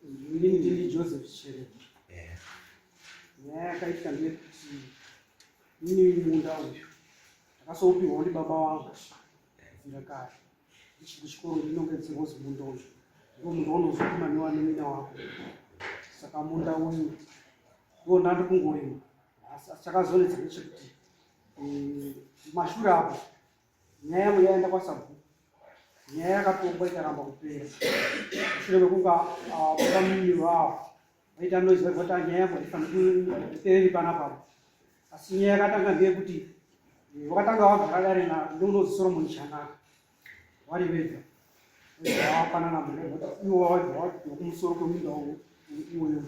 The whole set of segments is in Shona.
ndini joseph chere eh. nyaya yakaitika ndeyekuti ini munda uyu ndakasoupiwa ndi baba wangu kubvira eh. kare ndichiri kuchikoro ndinonge dzirwozi munda uyu ndo munda unozokuma newanimina wako saka munda uyu ndo ndandi kungorima asi chakazonetsa ndechekuti eh, mashure apo nyaya yangu yaenda kwasabhuku nyaya yakatongwa ikaramba kupera mushure mekunge vakamiri vavo vaita noizi vaiva kuti nyaya yangu haifanikupereri panapa asi nyaya yakatanga ndeyekuti eh, vakatanga vagara dare ndounozi soromoni chanaka vari vega vafanana ivo vavakumusoro kweminda iwoyo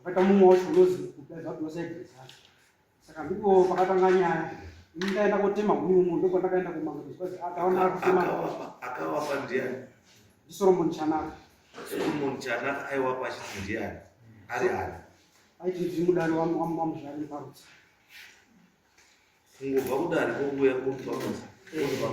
vakaita mumwe wacho unozi kudaiva kuti vasaigezana saka ndipo pakatanga nyaya ndaenda kotema huni umu ndipo ndakaenda kumaakaona kutema akawapa ndiani ndisoromon chanaka soromon chanaka aiwapa achiti ndiani ari ani aiti ndimudari wamuzvari parutsa kungobva kudari kokuya kuuaaa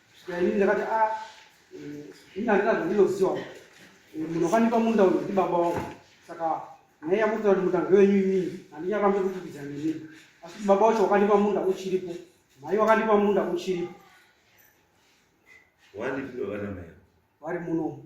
Yaini ndakati a ah, eh, ini handina zvandinoziva eh, munhu wakanipa munda uyu ndi baba wangu saka nyaya yamukuta kuti munda ngewenyu inini handinyakambe kutukidza nini asi kuti baba wacho wakanipa munda uchiripo mhai wakanipa munda uchiripo wandipiro vana mai vari munomu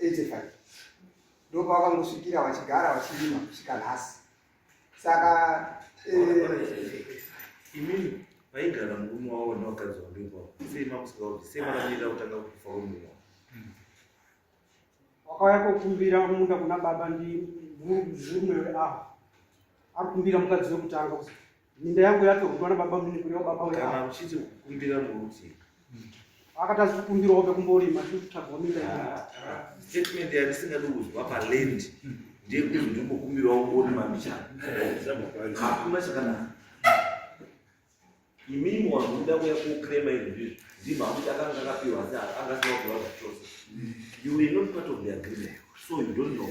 85 ndopavangosvikira vachigara vachirima kusvika nhasi saka eh, imini vaigara murume wavo nevakadzi vake ivavo sei makusika kuti sei makamirira kutanga kufa wemurume wavo wakauya kokumbira munda kuna baba ndi murume weava ari kumbira mukadzi wekutanga Minda yangu yacho kutwana baba mimi kulewa baba wewe. Kana uchiti kumbira muruti. Akata sikumbira obe kumbori machu tagwa minda yangu. Ah, ah. Statement ya singa do uzwa pa land. Ndiye kuti ndiko kumbira wangu ori mamicha. Hakuna chakana. Imimi wangu nda kuya ku krema izvi. Ndima kuti akanga akapiwa asi akanga sina kuwa kuchosa. You were not part of the agreement. So you don't know.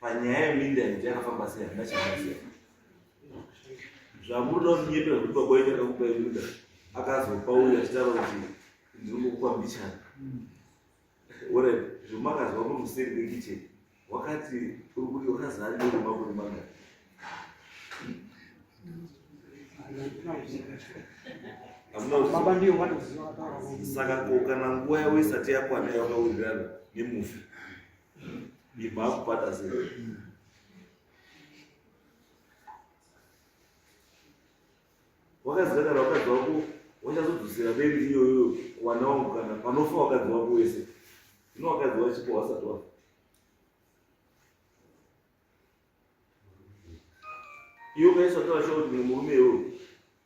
panyaya yeminda yekuti yakafamba sei handina chaaziva zvamuri nonyepe zvekuti baba wenyu akakupa yeminda akazopa uyo achitaura kuti ndiri kukupa mbichana ore zvomakazwa pamuseri pekicheni wakati uri kuti wakazaa nerumakuri mangani baba ndiyo vanoziva saka ko kana nguva yavo isati yakwana yavakawirirana nemufi ndibva akubata zero wakazikagara wakadzi wako wachazodzosera beri iyoyo kuwana wangu kana panofa wakadzi wako wese ino wakadzi wachipo wasati wafa iwe ukaiswa tavashauri murume iwoyo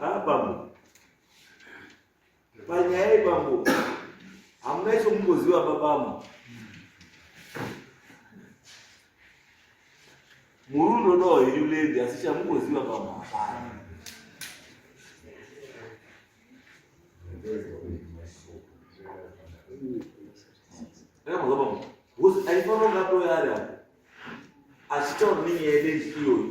Ah, bambo panyaya iyi bambo hamuna icho mungoziva babamo murundo no iri lady asi chamungoziva bambo hapana aifanonga toyari apo achitaura nenyaya yedenji iyoyi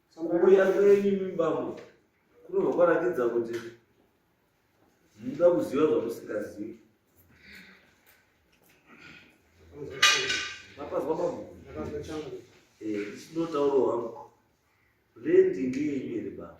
Kuuya kwenyu mibambo kunobva kwaratidza kuti munoda kuziva zvamusingazivi. Mapazwa bambo? Eh, ndinotaurawo hangu. Rendi ngeyenyu here bambo?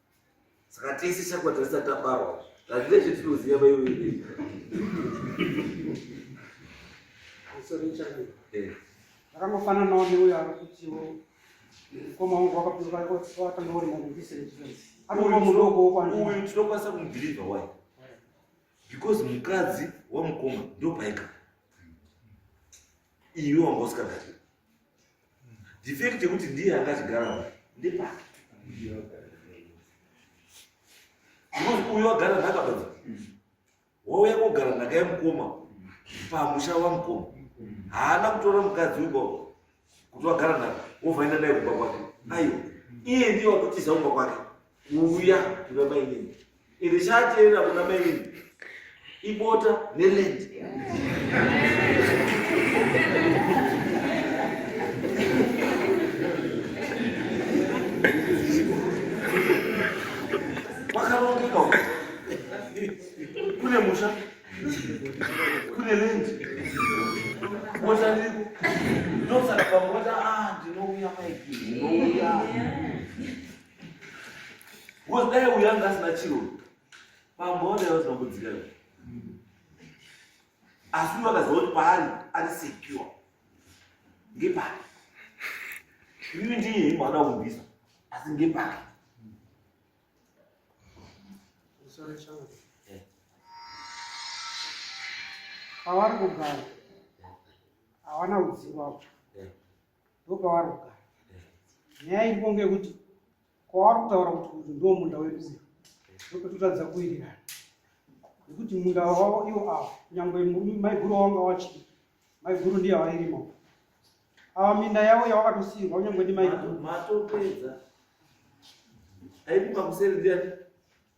saka tese chakwa tasati tabarwa hazvine chetinoziva vaiwei akangofananawo neuyo ari kutiwo mukoma wangu wakapiwatanga uri mudisrespence anova mudoko wokwauyu tinokwanisa kumubhirivha wai because mukadzi wamukoma ndopaika iwe wanga usikagari Defect yekuti ndiye akazvigara uyu ndepake. Because uyu agara nhaka baba. Wauya kogara nhaka yemukoma pamusha wamukoma. Haana kutora mukadzi uyu kuti wagara nhaka wovhaina naye kumba kwake. Aiwa. Iye ndiye wakutiza kumba kwake. kuuya kuna mainini ende chaateerera kuna mainini ibota nelendi wakarongeka kune musha kune lendi bota ndiko ndosaka pamota ah, ndinouya maiki ndinouya Because dai uyu anga asina chiro pamhonda yausina kudzika asi uyu akaziva kuti paari ari secure ngepari uyu ndiye imwana kubvisa asi ngepari pavari kugara hawana kudzingwa ndopavari kugara nyaya iripo ngekuti kwavari kutaura kuti uyu ndo munda wedu uyu ndopetotadza kuwirirana nekuti munda wavo iwo ava nyangwe maiguru wavanga wachii maiguru ndiye avairima ava minda yavo yavakatosiirwa kunyangwe ndi maiguru matopedza aikupa kuseri ndiyani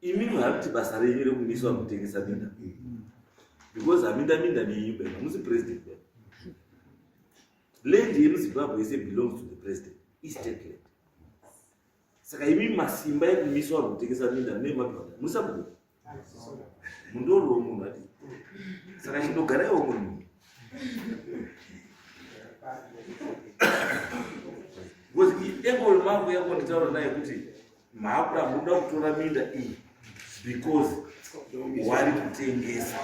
imi muhakuti basa renyu rekumiswa kutengesa minda because haminda minda nenyu be hamusi president be land yemuzimbabwe yese belongs to the president istate land saka imi masimba ekumiswa ari kutengesa minda mune madhwada musabuda mundoriwo munhu ati saka chindogaraiwo munhu because iengo remark yako nditaura naye kuti Mhapra munoda kutora minda iyi because wari kutengesa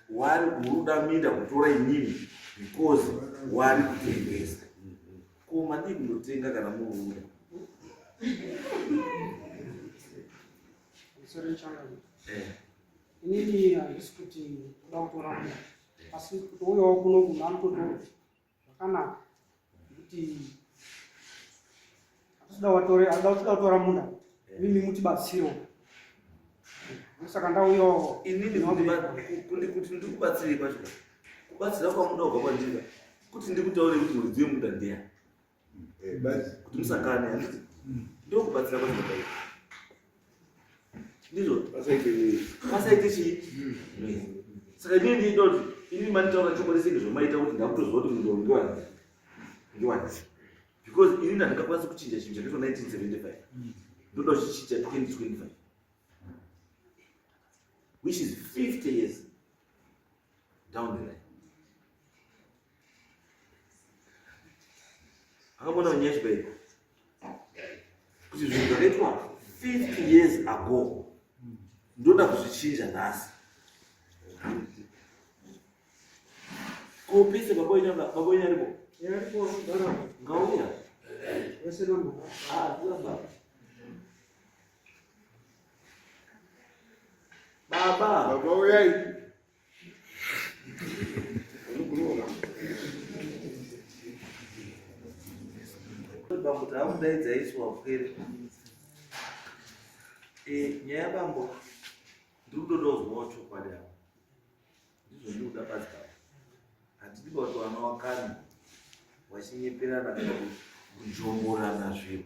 wari unoda minda kutora inini because wari kutengesa ko madii kunotenga kana muruda eh. inini handisi kuti kuda kutora asi kuti uyawo kuno munhu anototora zvakanaka kuti atida watore atida kutoda kutora munda mimi muti batsiro saka ndauyo inini kundi kuti ndi kubatsirei kwacho kubatsira kwamunda kubva kwandika kuti ndikutaure kuti muridzi wemuda ndeya eh, kuti musakane handiti ndokubatsira kwacho ndizvo vasaite chii saka inini ndiitoti inini manitaura chokwadi senge zvomaita kuti ndakutoziva kuti munhu ndiwani ndiwani because ini ndandingakwanisa kuchinja chinhu chakaitwa 1975 ndoda kuchichinja 2025 which is 50 years down the line akamona manyashi bai kuti zvinhu zvakaitwa 50 years ago ndoda kuzvichinja nhasi kopise baboinyaripo ngauya ah, Baba. Baba uyai. Bambo takudaidza isu wapwere. Eh, nyaya bambo ndiri kutoda kuzwawo chokwadi apo. Ndizvo ndiri kuda pasi pavo. Handidi kuti vana wakani vachinyeperana kana kujomborana zvinhu.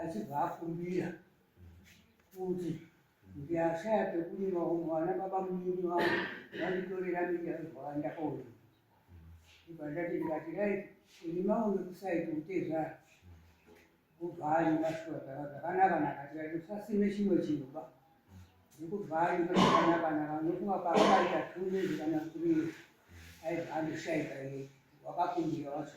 achibva akumbira kuti ndiashaya pekurima umo vana baba mumini vangu vanditorera miti aizvawandakaona ibva ndati ndikati rai kurima uno kusaiti utezvara kubva anyika shuwa dzava dzakanaka nakati ati usasime chimwe chinhu ba ndikubva anyika zvakanaka naka ndokuva paakaita tume zvikana kurima aibva andoshaika ye wakakumbira wacho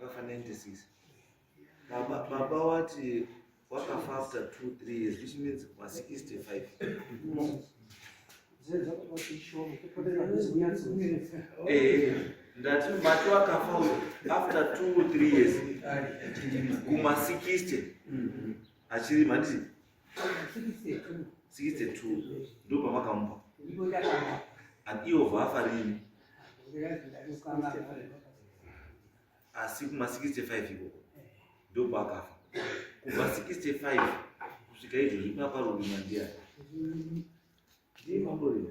Vafanendisisa. Baba, baba wati wakafa after two, three years, which means kwa 65. Eh, ndati mati wakafa uyo after two, three years. Kuma 60. Achiri mandii. 62 ndo pamakamupa and ivo vafa rini asi kuma 65 ivo ndo paakafa kubva 65 kusvika izvo zvikunaparurima ndiya ndiye mamurima